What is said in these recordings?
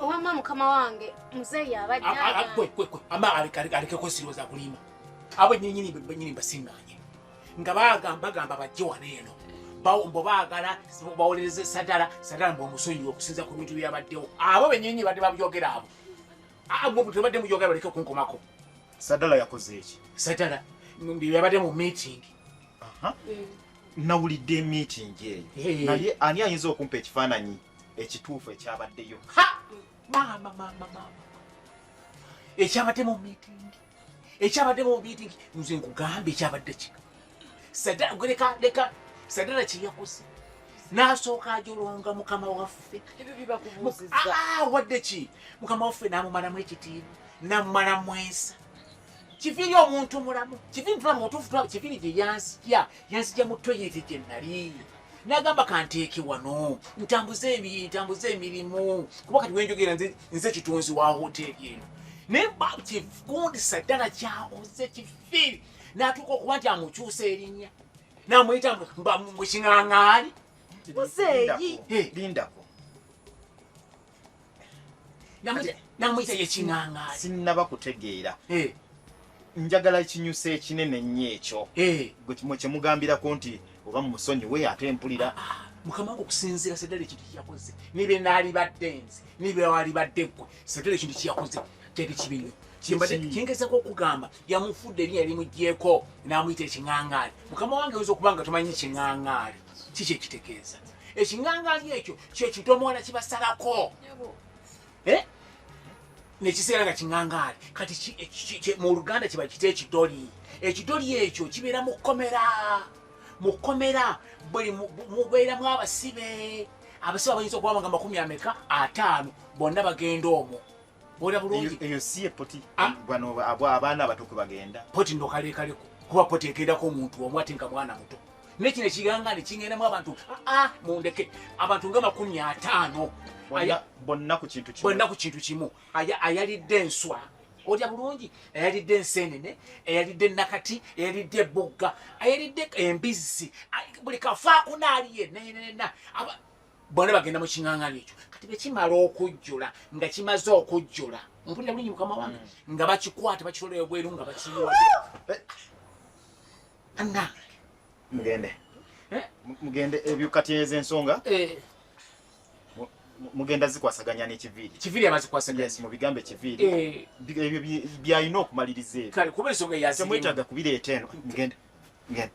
Owamma mukama wange muzeeyi abadde ama alekeko sirowooza kulimba abo nyinyini benyini mbasiŋŋaanye nga bagamba gamba bajje wano eno mbo baagala bawolereze sadala sadala mbu omusonyiwa okusinza ku bintu byabaddewo abo benyini badde babyogera abo abo tebadde muyogera baleke okunkomako sadala yakoze eki sadala yabadde mu meeting nawulidde meeting eyo naye ani ayinza okumpa ekifaananyi ekituufu ekyabaddeyo maama maama maama ekyabadde mu miitingi ekyabadde mu miitingi nze nkugamba ekyabadde kika sadaleka leka sadala kyeyakoze n'asooka ajolonga mukama waffe ah, wadde ki mukama waffe n'amumalamu ekitiibwa n'amumalamu ensa kifiri omuntu mulamu kifiri tulamu mutuufu tulamu kifiri gye yansikya yansikya mu toyireti gye nali nagamba kanteeke wano ntambuze ntambuze emirimu kuba kati wenjogera nze kitunzi wa hoteeri eno naye kifundisa ddala kyakoze kifiri natuuka okuba nti amukyusa erinnya namuyita muking'ang'aali muzeeyi lindako namuyita yekinangaali sinnaba kutegeera eh. njagala ekinyusa ekinene nnyo ekyo eh. gwe kyemugambirako nti oba mumusonyiwe ate mpulira ah, ah. mukama wange okusinziira sedala ekintu kyeyakoze nibe naalibadde nze nibe waalibadde ggwe sedala ekintu kyeyakoze kyali kibi nnyo kyengezako okugamba yamufudde erinya erimugyeko n'amuyita ekiŋaŋaali mukama wange oyinza okuba nga tomanyi kiŋaŋaali kiki ekitegeeza ekingangaali ekyo kyekidomola kibasalako eh? nekiseera nga kingangaali kati mu luganda kiba kita ekidoli ekidoli ekyo kibeera mu kkomera mu kkomera buli mubeeramu abasibe abasibe abayinza okuba nga makumi ameka ataano bonna bagenda omwo Bora bulungi. Eyo siye poti. Ah. Bano abo abana abatuku bagenda. Poti ndo kale kale ko. Kuba poti ekenda ko muntu omu atinka mwana muto. Nekine kiganga ne kingena mu abantu. Ah ah mundeke. Abantu ngama kumi atano. Aya bonna ku kintu kimu. Bonna ku kintu kimu. Aya ayali denswa. Oja bulungi. Ayali densene ne. Ayali den nakati. Ayali de bogga. Ayali de embizi. Buli kafa kunali ye. Ne ne ne na. Aba bona bagenda mu king'ang'ana ekyo kati bwe kimala okujjula nga kimaze okujjula mpulira bulungi mukama wange hmm. nga bakikwata bakitolera ebweru nga bakiyiwa eh. anna mugende eh? mugende ebyo kati ezo ensonga eh. mugenda zikwasaganya nekiviiri kiviiri abazikwasaganya yes, mubigambe kiviiri ebyo byalina okumaliriza ebyo kale kuba ensonga yazimu temwetaaga kubireeta eno mugende mugende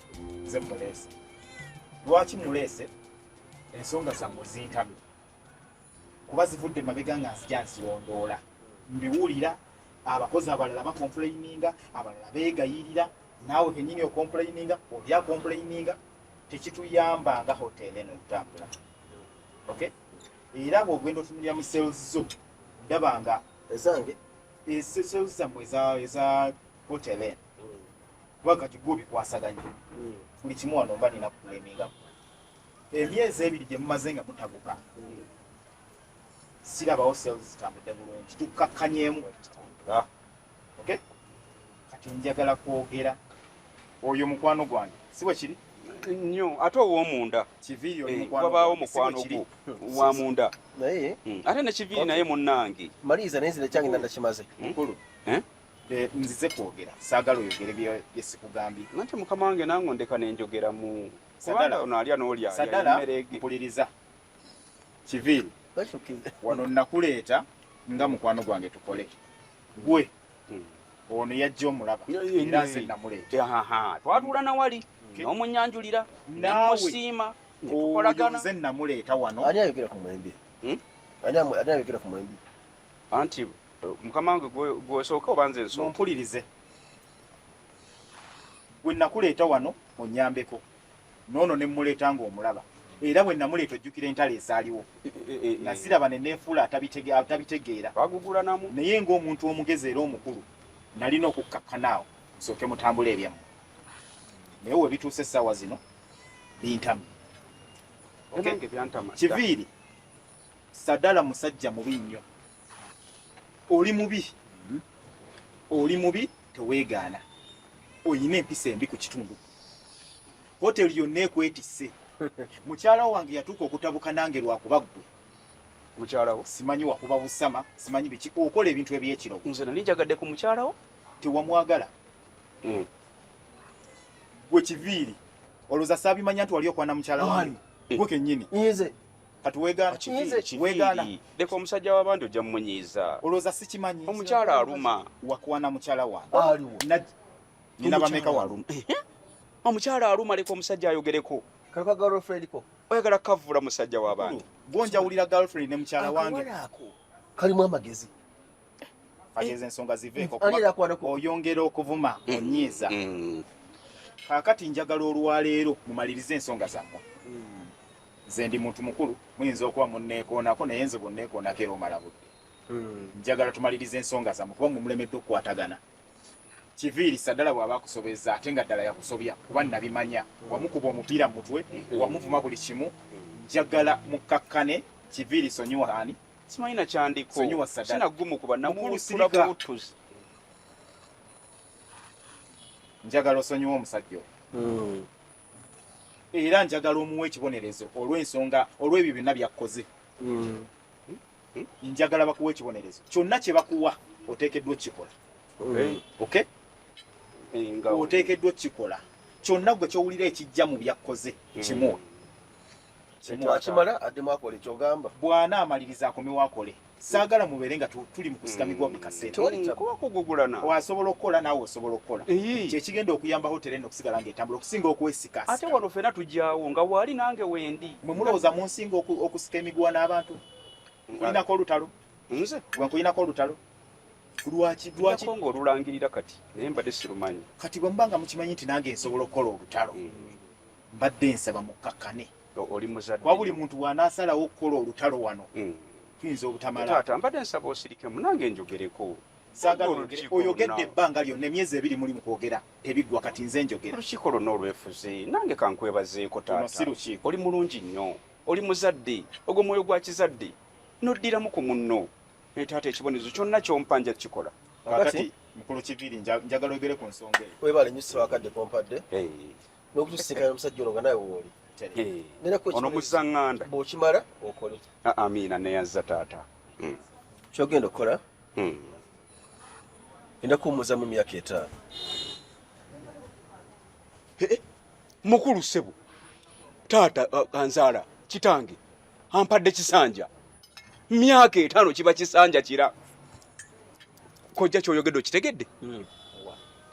nze muleese lwaki muleese ensonga zammwe zintamye kuba zivudde mabega nga nzija nzirondoola mbiwulira abakozi abalala bakompuleyininga abalala beegayirira naawe kenyini okompuleyininga oli akompuleyininga tekituyamba nga hotel eno okutambula ok era bwogenda otunulira mu sales zo ndaba nga ezange eh, sales zammwe eza hotel eno kuba kati gwo bikwasaganya buli kimu wano mba nina kukuleminga emyezi ebiri gye mumaze nga mutabuka sirabawo sales zitambudde bulungi tukkakkanyemu ah. ok kati njagala kwogera oyo mukwano gwange si bwe kiri nnyo ate ow'omunda eh, wabaawo mukwano gwo wa munda hmm. ate ne kiviiri naye munnange maliriza naye zina kyange nanda kimaze mukulu eh? Eh, nzize kwogera saagala oyogere byesikugambye nanti mukama wange nange ondeka nenjogera mu kubanga ono alya nolyaampuliriza kiviiri wano nakuleeta nga mukwano gwange tukole gwe hmm. ono yajja omulaba era nze namuleetatwatuula nawali nomunyanjulira namusiima nze namuleeta wano hmm? anti mukama wange gwesooka oba nze nsooka mumpulirize bwe nakuleeta wano onyambeko noono ne mmuleeta ng'omulaba era bwe namuleeta ojjukira entalo ezaaliwo eh, eh, eh, nasiraba ne neefuula atabitegeera bagugulanamu naye ng'omuntu omugezi era omukulu nalina okukkakkanaawo nsooke mutambula ebyamu naye we bituusa essaawa zino bintamu kiviiri sadala musajja mubi nnyo oli mubi oli mubi teweegaana olina empisa embi ku kitundu hoteli yonna ekwetisse mukyala wange yatuuka okutabuka nange lwakuba ggwe mukyalawo simanyi wakuba busama simanyi biki okola ebintu ebyekiro nze nali njagadde ku mukyalawo tewamwagala hmm. gwe kiviiri olwoza saabimanya nti wali okwana mukyala wange gwe kenyini kati wegaana kiki wegaana leka omusajja wabandi ojja mumunyiiza olowooza sikimanyi omukyala aluma wakwana mukyala wange aliwo nina bameka waluma omukyala aluma leka omusajja ayogereko kaka girlfriend ko oyagala kavula musajja wabandi gonjawulira girlfriend ne mukyala wange kalimu amagezi ageeza ensonga ziveeko oyongera okuvuma mm. onyiiza mm. kakati njagala olwaleero mumalirize ensonga zammwe mm. nze ndi muntu mukulu muyinza okuba munneekoonako naye nze bwonneekoonako era omala budde njagala tumalirize ensonga zammwe kuba mwe mulemedde okukwatagana kiviiri saddala bw'aba akusobeza ate nga ddala yakusobya kuba nabimanya wamukuba omupiira mu mutwe wamuvuma buli kimu njagala mukkakkane kiviiri sonyiwaani simanyi nakyandiko sinagumu kuba namuwusula buwutuzi njagala osonyiwa omusajja oyo hmm. era njagala omuwa ekibonerezo olwensonga olwebyo byonna byakkoze hmm. Hmm? njagala bakuwa ekibonerezo kyonna kyebakuwa oteekeddwa okukikola okay oteekeddwa okukikola kyonna gwe kyowulira ekijja mu byakkoze kimu akimala addemu akole kyogamba bwana amaliriza akomewo akole saagala mubeere nga tuli mukusigamigwa buli kaseeraokugugulana mm. wasobola okukola naawe osobola okukola kyekigenda okuyamba hotera eno okusigala ngaetambula okusinga okwesika ate wano fena tugyawo nga waali nange wendi mwe mulowooza munsinga okusika emiguwa n'abantu nkulinako olutalo nze gwe nkulinako olutalo lwaki lwaki kongo olulangirira kati naye mbadde sirumanyi kati bwe mubanga mukimanyi nti nange nsobola okukola olutalo mm. mbadde nsaba mukkakkane oli muzadde wabuli muntu wanaasalawo okukola olutalo wano hmm. tuyinza obutamala taata mbadde nsaba osirikemu nange njogereko oyogedde ebbanga lyonna emyezi ebiri muli mukwogera tebiggwa kati nze njogera olukiiko lwonna olwefuze nange kankwebazeeko taata oli mulungi nnyo oli muzadde ogwo mwoyo gwa kizadde noddiramu ku munno naye taata ekibonerezo kyonna kyompa nja kukikola kakati mukulu kiviri njagala oyogere ku nsonga eyo webale nyo siwakadde kompadde n'okutusinkana omusajja ono nga nawe wooli ono muzanganda bwokimala okole amiina neyazza taata hmm. kyogenda okukola hmm. enda kuwumuza mu myaka etaano mukulu sebo taata uh, anzaala kitange ampadde kisanja myaka etaano kiba kisanja kira kojja kyoyogedde okitegedde hmm.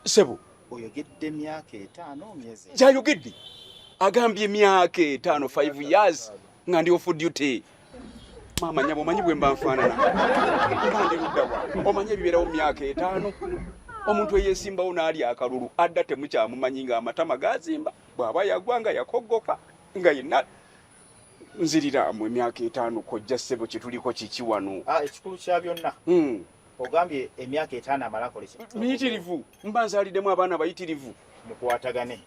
sebo oyogedde myaka etaano myezi gyayogedde agambye myaka etaano 5 years nga ndi ofu duty maama nyabo omanyi bwe mba nfaanana mba ndi luddawa omanyi ebibeerawo myaka etaano omuntu eyesimbawo n'ali akalulu adda temukyamumanyi ng'amatama gazimba bw'aba yagwa nga yakoggoka nga yenna nzirira mu emyaka etaano kojja ssebo kyetuliko kiki wano ah, ekikulu kya byonna hmm. ogambye emyaka etaano amalakole miyitirivu mba nzaliddemu abaana bayitirivu mukwatagane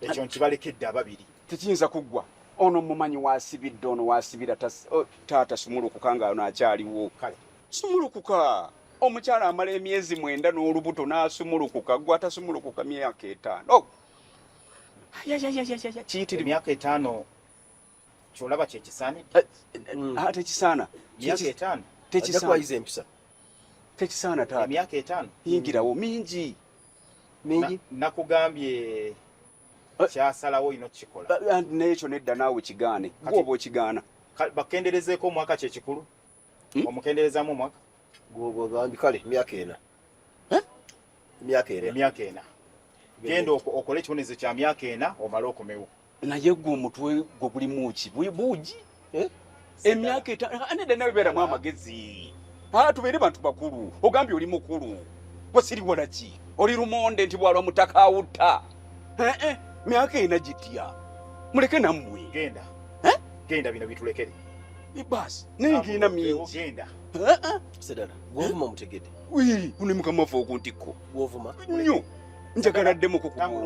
ekyo nkibalekedde ababiri tekiyinza kuggwa ono mumanyi wasibidde ono wasibira oh, taata sumulukuka nga ono akyaliwo sumulukuka omukyala amala emyezi mwenda n'olubuto n'asumulukuka gwe atasumulukuka myaka etaano oh, kiyitira emyaka etaano kyolaba kyekisaanidde tekisaana tekisaana taata emyaka etaano yingirawo mingi mingi nakugambye eh. kyasalawo olina okukikola eh, nekyo nedda naawe kigaane gwoba okigaana bakenderezeeko omwaka kyekikulu hmm? omukenderezamu omwaka gwoba ogambye kale emyaka ena emyaka ena emyaka ena genda okole ekibonerezo kya myaka ena omale okomewo naye gwe omutwe gwe gulimu ki buugi eh? emyaka etaano aneda nawe beeramu amagezi ah, tubeere bantu bakulu ogambye oli mukulu gwe siriwola ki oli lumonde nti bwalwa mutaka awutta eh, eh, myaka ena gitya muleke nammwe genda genda bino bitulekere baasi naye ngirina mingi genda sedala gwovuma omutegede Uno mukama waffe okuntikko nnyo njagala addemu ku kubongo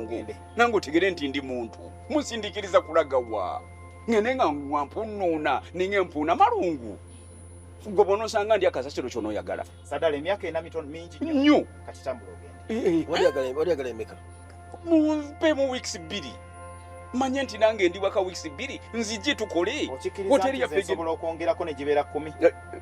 nange otegere nti ndi muntu musindikiriza kulaga wa ngende nga wampunuuna ninga empuuna malungu gwe bonosanga ndi akasasiro kyonoyagala nnyo mumpe mu weeks bbiri manye nti nange ndi waka weeks bbiri nzije tukole okwongerako ne gibeera kumi eh, eh,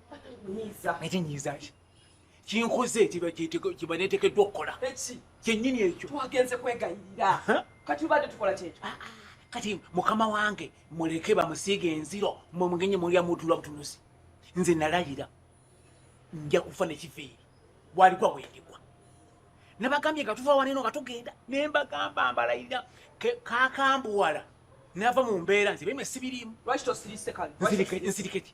ate nyiiza ki kinkoze kyebanetekeddwa okukola kyenyini ekyo twagenze kwegayirira kati ubadde tukola kyekyo ah, ah. kati mukama wange muleke bamusiiga enziro mwe mugenye mulya mutula butunuzi nze nalayira nja kufa nekiveeri bwaligwa bwendigwa nabagambye nga tuva waneno nga tugenda nembagamba mbalayira kakambuwala nava mu mbeera nze bemwe sibirimu lwaki tosirise kale nzirikeki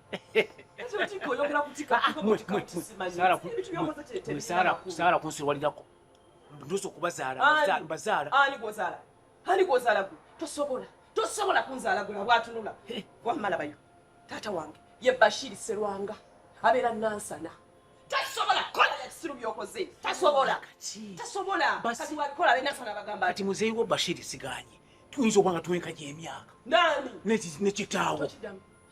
saala kunsiwalirako ndosa okubazaalabazaala tosobola tosobola kunzaala gwe abwatunula wamalabayo taata wange ye bashiri serwanga abeera nansana tasobola kola ebisiru byokoze tasobola tasobola kati wabikola abenansana bagamba kati muzeeyi wo bashiri siganye tuyinza obanga tuwenkanya emyaka nani nekitaawo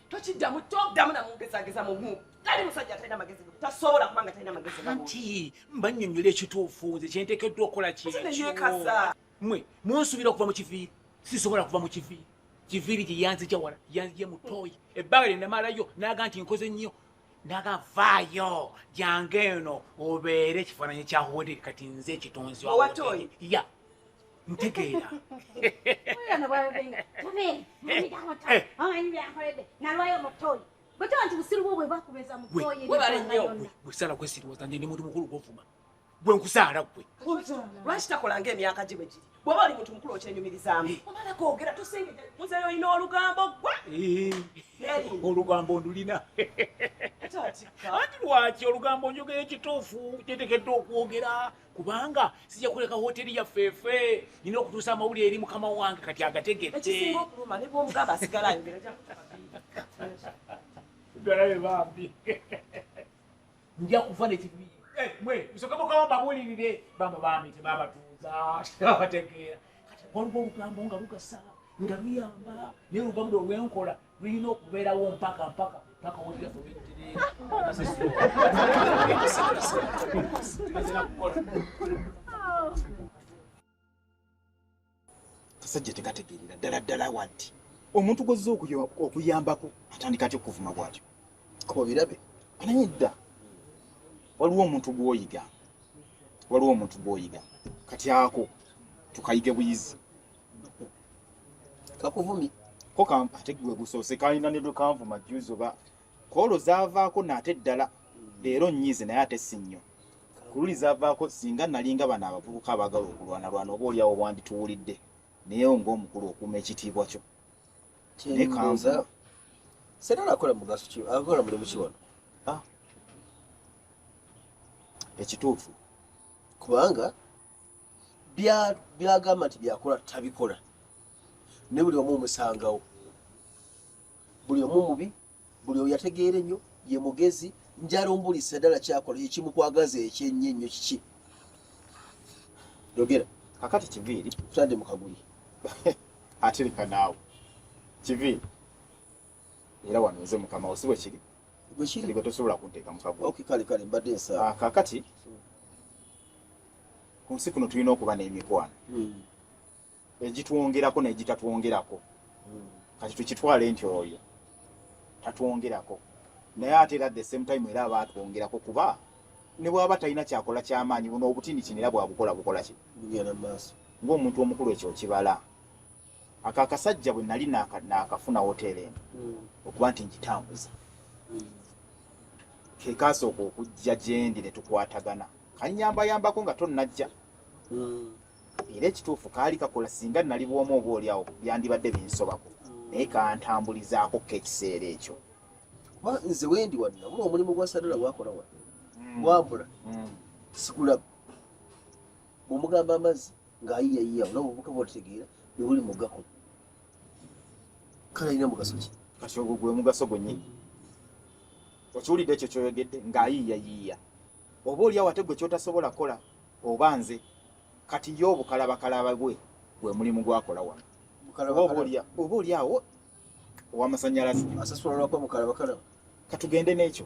tokiddamu toddamu namugezageza mumu tali musajja atalina magezi tasobola kubanga talina magezi anti mbanyonyola ekituufu nze kyentekeddwa okukola kyeyekaza mwe munsubira okuva mu kiviiri sisobola kuva mu kiviiri kiviiri gye yanzija wala yanzije mutoyi ebbanga lye namalayo naga nti nkoze nnyo naga vaayo jange eno obeere ekifaananyi kya hoteri kati nze ekitonzi ya ntegeera wesala kwesiriwaza nti ndi muntu mukulu gwovuma gwe nkusaala gwe lwaki takolanga emyaka gye bwegiri bwaba oli muntu mukulu okyenyumirizaamu omala gogera tusingide muzeyo olina olugambo gwa olugambo ndulina ati lwaki olugambo njogera ekituufu kyetekedde okwogera kubanga sija kuleka hoteli ya fefe nina okutusa amawulire eri mukama wange kati agategete ekisinga okuluma ne bwomugamba asigala ayogera galabe bambi nja kufa nekibi eh, mwe musoke mukama babulirire bamba bambi tebabatuuza tebabategeera kati waliwo olugambo nga lugasala nga luyamba naye olugambo lwe lwenkola lulina okubeerawo mpaka mpaka mpaka wulira kasajja tekategeerera ddala ddala wanti omuntu gwozza okuyambako atandika atya okuvuma bwatyo obirabe anaye dda waliwo omuntu gwoyiga waliwo omuntu gwoyiga kati ako tukayige buyizi kakuvumi ko kampa ate gwe gusoose kalina ne lwe kanvuma juzi oba koolo zaavaako naate ddala leero nnyize naye ate si nnyo ku luli zaavaako singa nalinga bano abavubuka abaagala okulwanalwana oba oliawo wandituwulidde naye ngaomukulu okuuma ekitiibwa kyo naye kanza senala akola mugaso ki akola mulimu ki wano ah. ekituufu kubanga byagamba nti byakola tabikola ne buli omu omusangawo buli omu mubi buli oyo yategeera ennyo ye mugezi njala ombulisa ddala kyakola ekimukwagaza ekyenyo ennyo kiki yogera kakati kiviiri tutadde mu kaguli atereka naawe kiviiri era wano nze mukama osi bwe kiri bwekiri gwe tosobola kunteeka mu kaguli kakati ku nsi kuno tulina okuba n'emikwano hmm. egitwongerako n'egitatwongerako hmm. kati tukitwale nti oyo tatwongerako naye ate era the same time era aba atwongerako kuba ne bwaba talina kyakola kyamaanyi buno obutini kino era bwabukola bukola ki ng'omuntu omukulu ekyo okibala Ako akasajja bwe nali naakafuna woteera eno hmm. okuba nti ngitambuza hmm. ke kaasooka okujja gyendi ne tukwatagana kannyambayambako nga tonnajja hmm. era ekituufu kaali kakola singa nali bwomu oba olyawo byandibadde binsobako naye kantambulizaako ko ekiseera ekyo nze wendi wanna bula omulimu gwa sadala gwakola wa wabula sikulaba omugamba amazzi ng'ayiya yiya olaba obuka bw'otegeera bwe buli mu gako kale alina mugaso ki kati ogwo gwe mugaso gwennyini okiwulidde ekyo kyoyogedde ng'ayiiya yiiya oba olyawo ate gwe kyotasobola kola oba nze kati ye obukalabakalaba gwe gwe mulimu gwakola wano oba olyawo owamasanyalaze asasula lwakwa mukalabakalaba katugende n'ekyo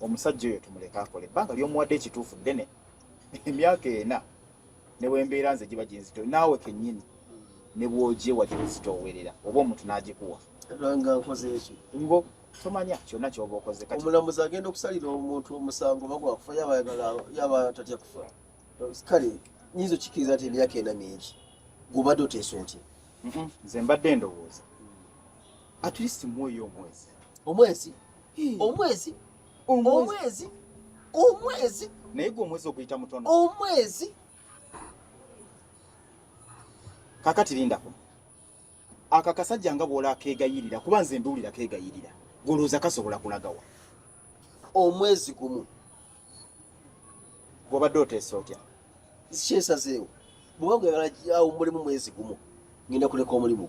omusajja oyo tumuleke akole ebbanga lyomuwadde ekituufu ddene emyaka ena newembeera nze giba ginzito naawe kenyini nebwogyewa gyozitoowerera oba omuntu nagikuwa ngo tomanya kyonna kyoba okoze omulamuzi agenda okusalira omuntu omusango bagwakufa yaba tatya kufa kale nyinza okikiriza nti emyaka ena mingi gubadde oteesa otya nze mbadde ndowooza at least mwoyo omwezi omwezi omwezi omwezi omwezi naye gwe omwezi oguyita mutono omwezi kakati lindako aka kasajja nga bwola kegayirira kuba nze mbiwulira kegayirira golooza kasobola kulagawa omwezi gumu gwobadde oteesa otya kyesazeewo bwewagala awo mulimu mwezi gumu ngenda kuleka omulimu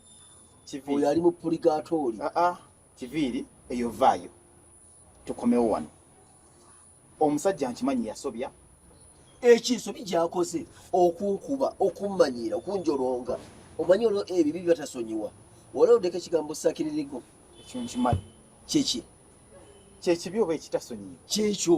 oyo ali mu puligaatooli ah, ah. kiviiri eyo vaayo tukomewo wano omusajja nkimanyi yasobya ekinsobi gyakoze okunkuba okummanyiira okunjolonga omanyi olwo ebibi byatasonyiwa wala odeka ekigambo sakiririgo ekyo nkimanyi kyeki kyekibi oba ekitasonyiwa kyekyo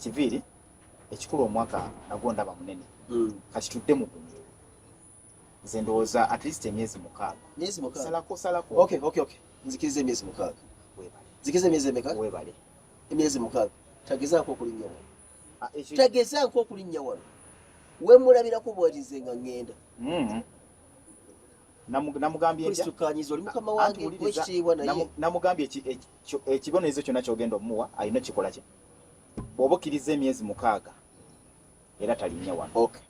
kiviiri ekikulu omwaka nagwo ndaba munene hmm. kati tudde mu gumu nze ndowooza at least emyezi mukaagasalakosalakonzikiriza emyezi mukaaga nzikiriza emyezi emeka webale emyezi mukaaga tagezaako okulinnya wano ah, tagezaako okulinnya wano wemulabirako bwalize nga ngenda hmm. namugambye ekitiibwa naye namugambye ekibonerezo kyonna kyogenda omuwa alina okikola kino bw'oba okkirizza emyezi mukaaga era talinnya wano okay.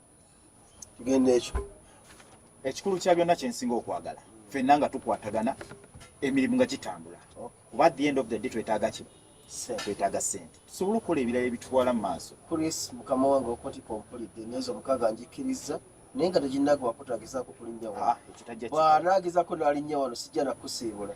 tugenda ekyo ekikulu kya byonna kyensinga okwagala fenna nga tukwatagana emirimu nga gitambula kuba at the end of the day twetaaga ki twetaaga sente tusobole okukola ebirala ebitwala mu maaso chris mukama wange okotika ompulidde emyezi omukaaga njikkirizza naye nga teginnaga wakutagizako kulinnya wano ah, bwanaagezako nalinnya wano sijja nakusiibula